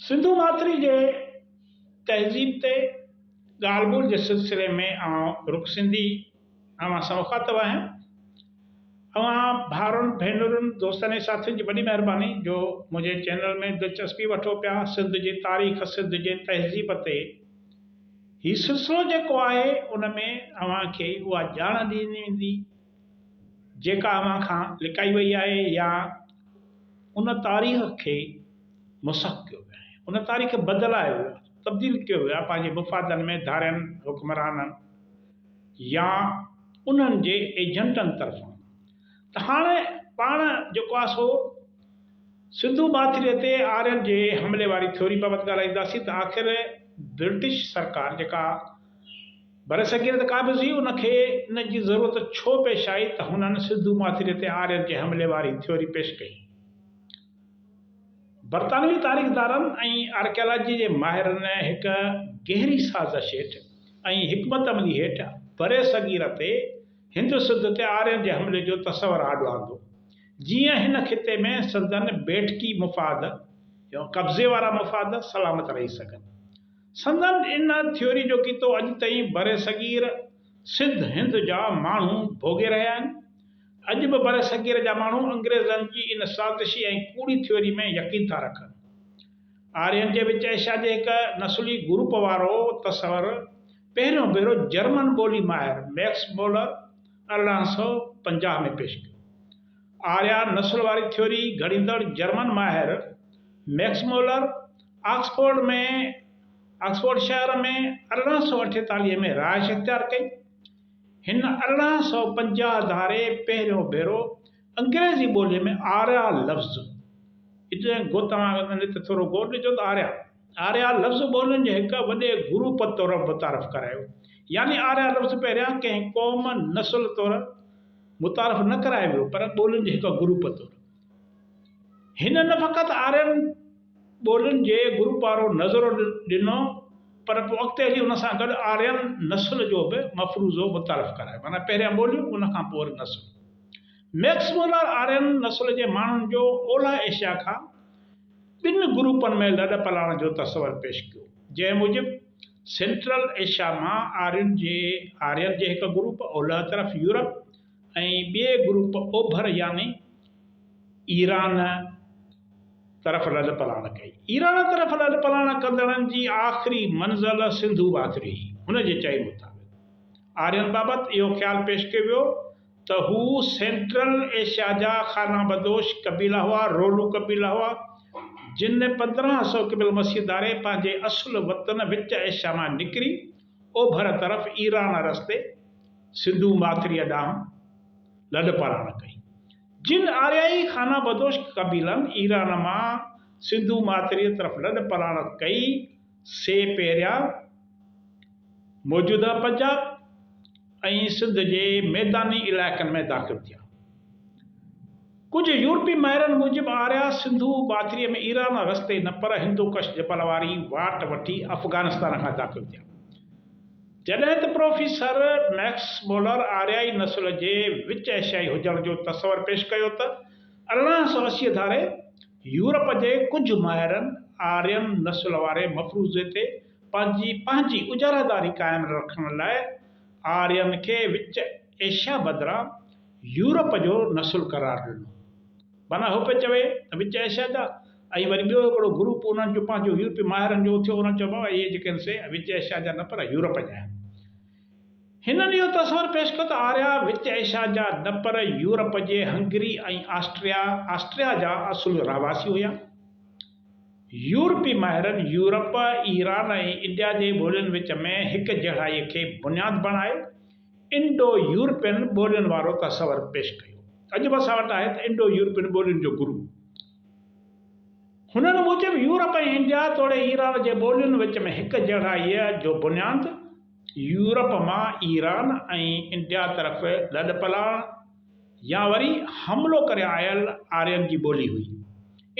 سنڌو ماٿري جي تهذيب تي ڳالهه ٻولهه جي سلسلي ۾ آئون رڳو سنڌي اوهان سان مخاطب آهيان. اوهان ڀائرن، ڀينرن، دوستن ۽ ساٿين جي وڏي مهرباني جو منهنجي چينل ۾ دلچسپي وٺو پيا. سنڌ جي تاريخ، سنڌ جي تهذيب تي هي سلسلو جيڪو آهي ان ۾ اوهان کي اها ڄاڻ ڏني ويندي. جيڪا اوهان کان لڪائي وئي آهي يا ان تاريخ کي مسخ ڪيو ويو آهي ان تاريخ کي بدلايو ويو آهي تبديل ڪيو ويو آهي پنهنجي مفادن ۾ ڌارين حڪمرانن يا انهن جي ايجنٽن طرفان ته هاڻي پاڻ جيڪو آهي سو سنڌو ماٿريء تي آرين جي حملي واري ٿيوري بابت ڳالهائينداسين ته آخر برٽش سرڪار جيڪا برصغير تي قابضي ان کي ان جي ضرورت ڇو پيش آئي ته هنن سنڌو ماٿري تي آرين جي حملي واري ٿيوري پيش ڪئي. برطانوي تاريخدارن ۽ آرڪيالاجيء جي ماهرن هڪ گهري سازش هيٺ ۽ حڪمت عملي هيٺ برصغير تي هند سنڌ تي آرين جي حملي جو تصور آڏو آندو جيئن هن خطي ۾ سندن بيٺڪي مفاد يا قبضي وارا مفاد سلامت رهي سگهن. سندن ان ٿيوري جو ڪيتو اڄ تائين برصغير سنڌ هند جا ماڻهو ڀوڳي رهيا آهن. اڄ به برصغير جا ماڻهو انگريزن جي ان سازشي ۽ ڪوڙي ٿيوري ۾ يقين ٿا رکن. آرين جي وچ ايشيا جي هڪ نسلي گروپ وارو تصور پهريون ڀيرو جرمن ٻولي ماهر ميڪس مولر ارڙهن سؤ پنجاهه ۾ پيش ڪيو. آريان نسل واري ٿيوري گهڙيندڙ جرمن ماهر ميڪس مولر آڪسفورڊ ۾ آڪسفورڊ شهر ۾ ارڙهن سؤ اٺيتاليهه ۾ رهائش اختيار ڪئي. هن ارڙهن سؤ پنجاهه ڌاري پهريون ڀيرو انگريزي ٻوليء ۾ آريا لفظ، Italian گو توهان کي ڪن هتي ٿورو غور ڏجو ته آريا، Arya، لفظ ٻولين جي هڪ وڏي گروپ طور متعارف ڪرايو. يعني آريا لفظ پهريان ڪنهن قوم، نسل، طور متعارف نه ڪرايو ويو پر ٻولين جي هڪ گروپ طور. هن نه فقط آرين ٻولين جي گروپ وارو نظرو ڏنو پر پوء اڳتي هلي ان سان گڏ آرين نسل جو به مفروضو متعارف ڪرايو، معنيٰ پهريان ٻوليون ان کان پوء وري نسل. ميڪس مولر آرين نسل جي ماڻهن جو اولهه ايشيا کان ٻن گروپن ۾ لڏ پلاڻ جو تصور پيش ڪيو، جنهن موجب سينٽرل ايشيا مان آرين جي آرين جي هڪ گروپ، اولهه طرف يورپ، ۽ ٻئي گروپ اوڀر يعني ايران طرف لڏپلاڻ ڪئي. ايران طرف لڏپلاڻ ڪندڙن جي آخري منزل سنڌو واتري هئي. هن جي چئي مطابق آرين بابت اهو خيال پيش ڪيو ويو ته هو سينٽرل ايشيا جا خانه بدوش قبيلا هئا، رولو قبيلا هئا، جن پندرهن سؤ قبل مسيح ڌاري پنهنجي اصل وطن وچ ايشيا مان نڪري اوڀر طرف ايران رستي سنڌو ماٿريء ڏانهن لڏ پلاڻ ڪئي. جن آريائي خانه بدوش قبيلن ايران مان سنڌو ماٿريء طرف لڏ پلاڻ ڪئي، سي پهريان موجوده پنجاب، ۽ سنڌ جي ميداني علائقن ۾ داخل ٿيا. ڪجهه يورپي ماهرن موجب آريا سنڌو ٻاٿري ۾ ايران رستي نه پر هندوڪش جبل واري واٽ وٺي افغانستان کان داخل ٿيا. جڏهن ته پروفيسر مئڪس مولر آريائي نسل جي وچ ايشيائي هجڻ جو تصور پيش ڪيو ته ارڙهن سؤ اسي ڌاري يورپ جي ڪجهه ماهرن آرين نسل واري مفروضي تي پنهنجي پنهنجي اجاراداري قائم رکڻ لاء آرين کي وچ ايشيا بدران يورپ جو نسل قرار ڏنو. معنيٰ هو پيو چوي ته وچ ايشيا جا ۽ وري ٻيو هڪڙو گروپ انهن جو پنهنجو يورپي ماهرن جو اٿيو انهن چيو بابا اهي جيڪي آهن سي وچ ايشيا جا نه پر يورپ جا آهن. هنن اهو تصور پيش ڪيو ته آريا وچ ايشيا جا نه پر يورپ جي هنگري ۽ آسٽريا، Austria، جا اصل رهواسي هيا. يورپي ماهرن يورپ، ايران ۽ انڊيا جي ٻولين وچ ۾ هڪجهڙائيء کي بنياد بڻائي انڊو يورپين ٻولين وارو تصور پيش ڪيو. اڄ به اسان وٽ آهي ته انڊو يورپين ٻولين جو گرو. هنن موجب يورپ ۽ انڊيا توڙي ايران جي ٻولين وچ ۾ هڪجهڙائيء جو بنياد يورپ مان ايران ۽ انڊيا طرف لڏپلاڻ، يا وري حملو ڪري آيل آرين جي ٻولي هئي.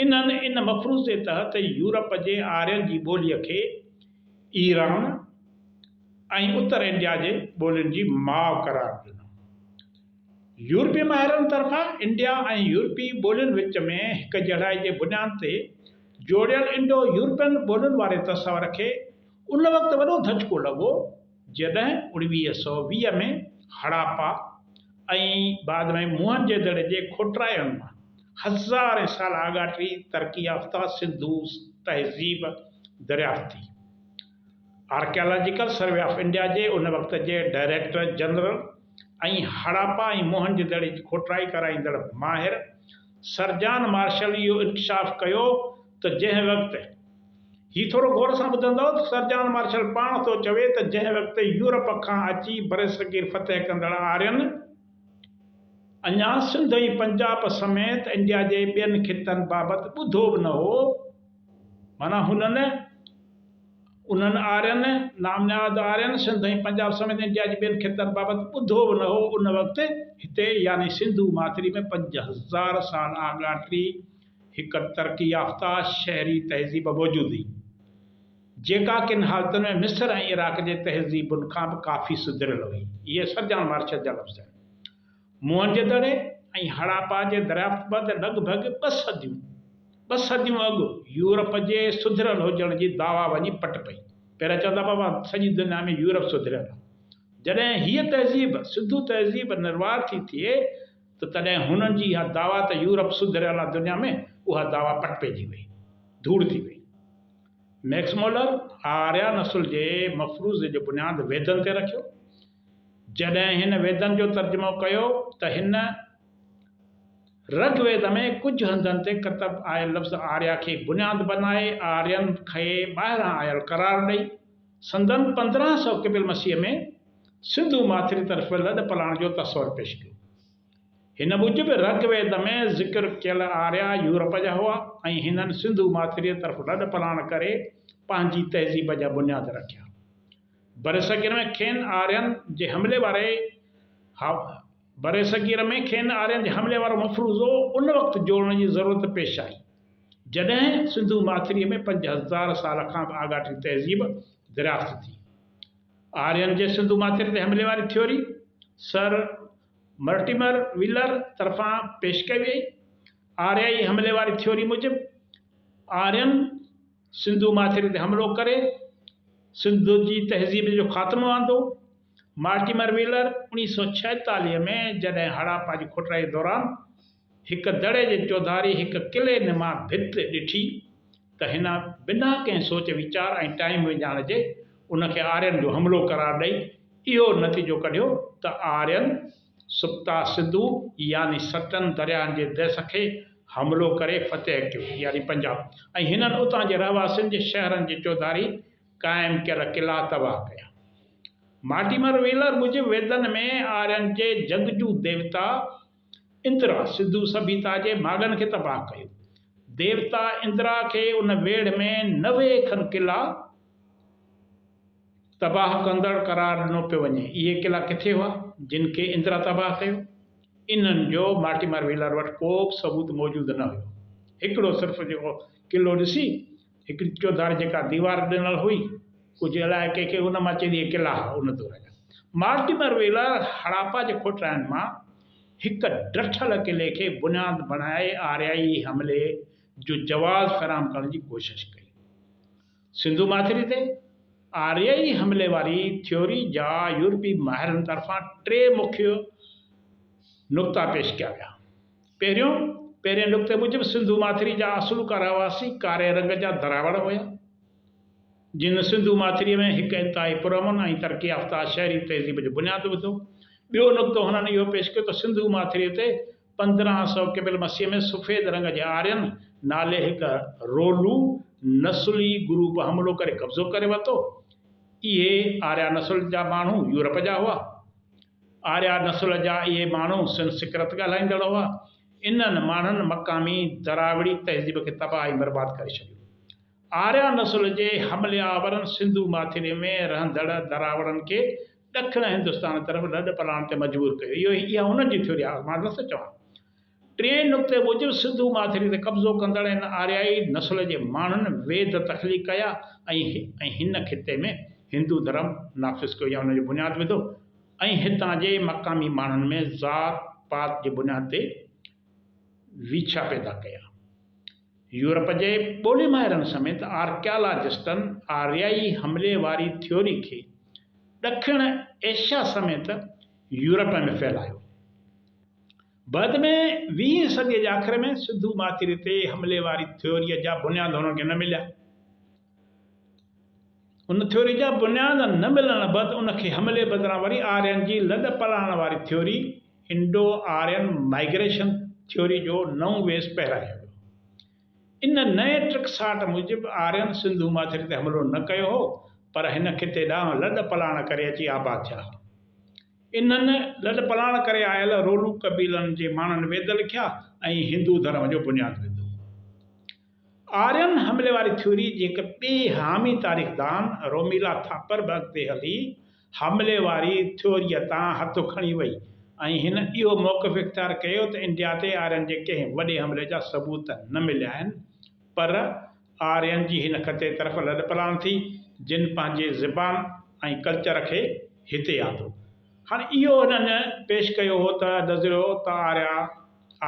انهن ان مفروضي تحت يورپ جي آرين جي ٻوليء کي ايران ۽ اتر انڊيا جي ٻولين جي ماء قرار ڏنو. يورپي ماهرن طرفان انڊيا ۽ يورپي ٻولين وچ ۾ هڪجهڙائي جي بنياد تي جوڙيل انڊو يورپين ٻولين واري تصور کي ان وقت وڏو ڌچڪو لڳو، جڏهن اڻويهه سؤ ويهه ۾ هڙاپا ۽ بعد ۾ موهن جي دڙي جي کوٽرائڻ مان هزارين سال آڳاٽي ترقي يافته سنڌو تهذيب دريافت ٿي. آرڪيالاجيڪل سروي آف انڊيا جي ان وقت جي ڊائريڪٽر جنرل ۽ هڙاپا ۽ موهن جي دڙي جي کوٽرائي ڪرائيندڙ ماهر سرجان مارشل اهو انڪشاف ڪيو ته جنهن وقت، هي ٿورو غور سان ٻڌندؤ ته سر جان مارشل پاڻ ٿو چوي ته جنهن وقت يورپ کان اچي برصغير فتح ڪندڙ آرين اڃا سنڌ ۽ پنجاب سميت انڊيا جي ٻين خطن بابت ٻڌو به نه هو معنيٰ هنن، انهن آرين، نامنهاد آرين، سنڌ ۽ پنجاب سميت انڊيا جي ٻين خطن بابت ٻڌو به نه هو ان وقت هتي يعني سنڌو ماٿري ۾ پنج هزار سال آڳاٽي هڪ ترقي يافته شهري تهذيب موجود هئي، جيڪا ڪن حالتن ۾ مصر ۽ عراق جي تهذيبن کان به ڪافي سڌريل هئي. اهي سرجڻ مارشل جا لفظ آهن. موهنجو دڙي ۽ هڙاپا جي دريافت بعد لڳ ڀڳ ٻه صديون ٻه صديون اڳ يورپ جي سڌريل هجڻ جي دعويٰ وڃي پٽ پئي. پهريان چوندا هئا ته سڄي دنيا ۾ يورپ سڌريل آهي. جڏهن هيء تهذيب، سنڌو تهذيب، نروار ٿي ٿئي، ته تڏهن هنن جي اها دعويٰ ته يورپ سڌريل آهي دنيا ۾ اها دعويٰ پٽ پئجي وئي، ڌوڙ ٿي وئي. ميڪس مولر آريا نسل جي مفروضي جو بنياد ويدن تي رکيو. جڏهن هن ويدن جو ترجمو ڪيو ته هن رگ ويد ۾ ڪجهه هنڌن تي ڪتب آيل لفظ آريا کي بنياد بنائي آرين کي ٻاهران آيل قرار ڏئي، سندن پندرهن سؤ قبل مسيح ۾ سنڌو ماٿري طرف لڏ پلاڻ جو تصور پيش ڪيو. هن موجب رگ ويد ۾ ذڪر ڪيل آريا يورپ جا هئا ۽ هنن سنڌو ماٿريء طرف لڏ پلاڻ ڪري پنهنجي تهذيب جا بنياد رکيا. برصغير ۾ کين آرين جي حملي واري برصغير ۾ کين آرين تي حملي وارو مفروضو ان وقت جوڙڻ جي ضرورت پيش آئي، جڏهن سنڌو ماٿريء ۾ پنج هزار سال کان به آڳاٽي تهذيب دريافت ٿي. آرين جي سنڌو ماٿري تي حملي واري ٿيوري سر مرٽيمر ويلر طرفان پيش ڪئي ويئي. آريائي حملي واري ٿيوري موجب، آرين سنڌو ماٿري تي حملو ڪري سنڌ جي تهذيب جو خاتمو آندو. مارٽيمر ويلر اوڻيهه سؤ ڇاهيتاليهه ۾ جڏهن هڙاپا جي کوٽرائيء دوران هڪ دڙي جي چوڌاري هڪ قلعي نما ڀت ڏٺي ته هن بنا ڪنهن سوچ ويچار ۽ ٽائيم وڃائڻ جي ان کي آرين جو حملو قرار ڏئي اهو نتيجو ڪڍيو ته آرين سپتا سنڌو يعني ستن درياهن جي ديس کي حملو ڪري فتح ڪيو يعني پنجاب ۽ هنن اتان جي رهواسين جي شهرن جي چوڌاري قائم ڪيل قلعا تباهه ڪيا. مارٽيمر ويلر موجب ويدن ۾ آرين جي جڳ جون ديوتا اندرا سنڌو سڀيتا جي ماڳن کي تباهه ڪيو. ديوتا اندرا کي ان ويڙهه ۾ نوي کن قلعا تباهه ڪندڙ قرار ڏنو پيو وڃي. اهي قلعا ڪٿي هئا جن کي اندرا تباهه ڪيو؟ انهن جو مارٽيمر ويلر وٽ ڪوبه ثبوت موجود نه هيو. هڪڙو صرف جيڪو قلعو ڏسي. هڪڙي چوڌاري جيڪا ديوار ڏنل هئي، ڪجهه الاهي ڪنهن کي، ان مان چئجي قلعا هئا ان دور جا. مارٽيمر ويلر هڙاپا جي کوٽرائن مان هڪ ڊٺل قلعي کي بنياد بڻائي آريائي حملي جو جواز فراهم ڪرڻ جي ڪوشش ڪئي. سنڌو ماٿري تي آريائي حملي واري ٿيوري جا يورپي ماهرن طرفان ٽي مکيه نقطا پيش ڪيا ويا. پهريون، پهرين نقطي موجب سنڌو ماٿري جا اصلوڪا رهواسي ڪاري رنگ جا دراوڙ هيا، جن سنڌو ماٿريء ۾ هڪ انتهائي پرامن ۽ ترقي يافته شهري تهذيب جو بنياد وڌو. ٻيو نقطو هنن اهو پيش ڪيو ته سنڌو ماٿريء تي پندرهن سؤ قبل مسيح ۾ سفيد رنگ جي آرين نالي هڪ رولو نسلي گروپ حملو ڪري قبضو ڪري ورتو. اهي آريا نسل جا ماڻهو يورپ جا هئا. آريا نسل جا اهي ماڻهو سنسڪرت ڳالهائيندڙ هئا. انهن ماڻهن مقامي دراوڙي تهذيب کي تباهه ۽ برباد ڪري ڇڏيو. آريا نسل جي حملي آورن سنڌو ماٿري ۾ رهندڙ دراوڙن کي ڏکڻ هندستان طرف لڏ پلاڻ تي مجبور ڪيو. اهو اها انهن جي ٿيوري آهي، مان نٿو چوان. ٽئين نقطي موجب سنڌو ماٿري تي قبضو ڪندڙ هن آريائي نسل جي ماڻهن ويد تخليق ڪيا ۽ هن خطي ۾ هندو ڌرم نافذ ڪيو يا ان جو بنياد وڌو ۽ هتان جي مقامي ماڻهن ۾ ذات پات جي بنياد تي ويڇا پيدا ڪيا. يورپ جي ٻولي ماهرن سميت آرڪيالاجسٽن آريائي حملي واري ٿيوري کي ڏکڻ ايشيا سميت يورپ ۾ ڦهلايو. بعد ۾ ويهين صديء جي آخر ۾ سنڌو ماٿري تي حملي واري ٿيوريء جا بنياد هن کي نه مليا. ان ٿيوريء جا بنياد نه ملڻ بعد ان کي حملي بدران وري آرين جي لڏ پلاڻ واري theory, Indo Aryan migration theory, جو نئون ويس پهرايو ويو. ان نئين ٽڪساٽ موجب آرين سنڌو ماٿري تي حملو نه ڪيو هو، پر هن خطي ڏانهن لڏ پلاڻ ڪري اچي آباد ٿيا هئا. انهن لڏپلاڻ ڪري آيل رولو قبيلن جي ماڻهن ويد لکيا ۽ هندو ڌرم جو بنياد وڌو. آرين حملي واري ٿيوري جي هڪ ٻئي حامي تاريخدان روميلا ٿاپر به اڳتي هلي حملي واري ٿيوريء تان هٿ کڻي وئي ۽ هن اهو موقف اختيار ڪيو ته انڊيا تي آرين جي ڪنهن وڏي حملي جا ثبوت نه مليا آهن پر آرين جي هن خطي طرف لڏپلاڻ ٿي، جن پنهنجي زبان ۽ ڪلچر کي هتي آندو. هاڻ اهو هنن پيش ڪيو هو ته نظريو ته آريا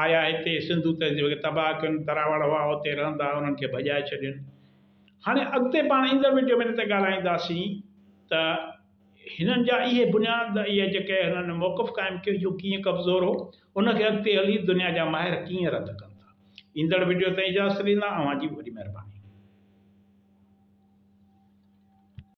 آيا هتي، سنڌو تهذيب کي تباهه ڪين، تراوڙ هئا اتي رهندا، انهن کي ڀڄائي ڇڏين. هاڻي اڳتي پاڻ ايندڙ وڊيو ۾ ان تي ڳالهائينداسين ته. هنن جا اهي بنياد اهي جيڪي هنن موقف قائم ڪيو جو ڪيئن ڪمزور هو ان کي اڳتي هلي دنيا جا ماهر ڪيئن رد ڪن ٿا ايندڙ وڊيو تائين اجازت ڏيندا اوهان جي وڏي مهرباني.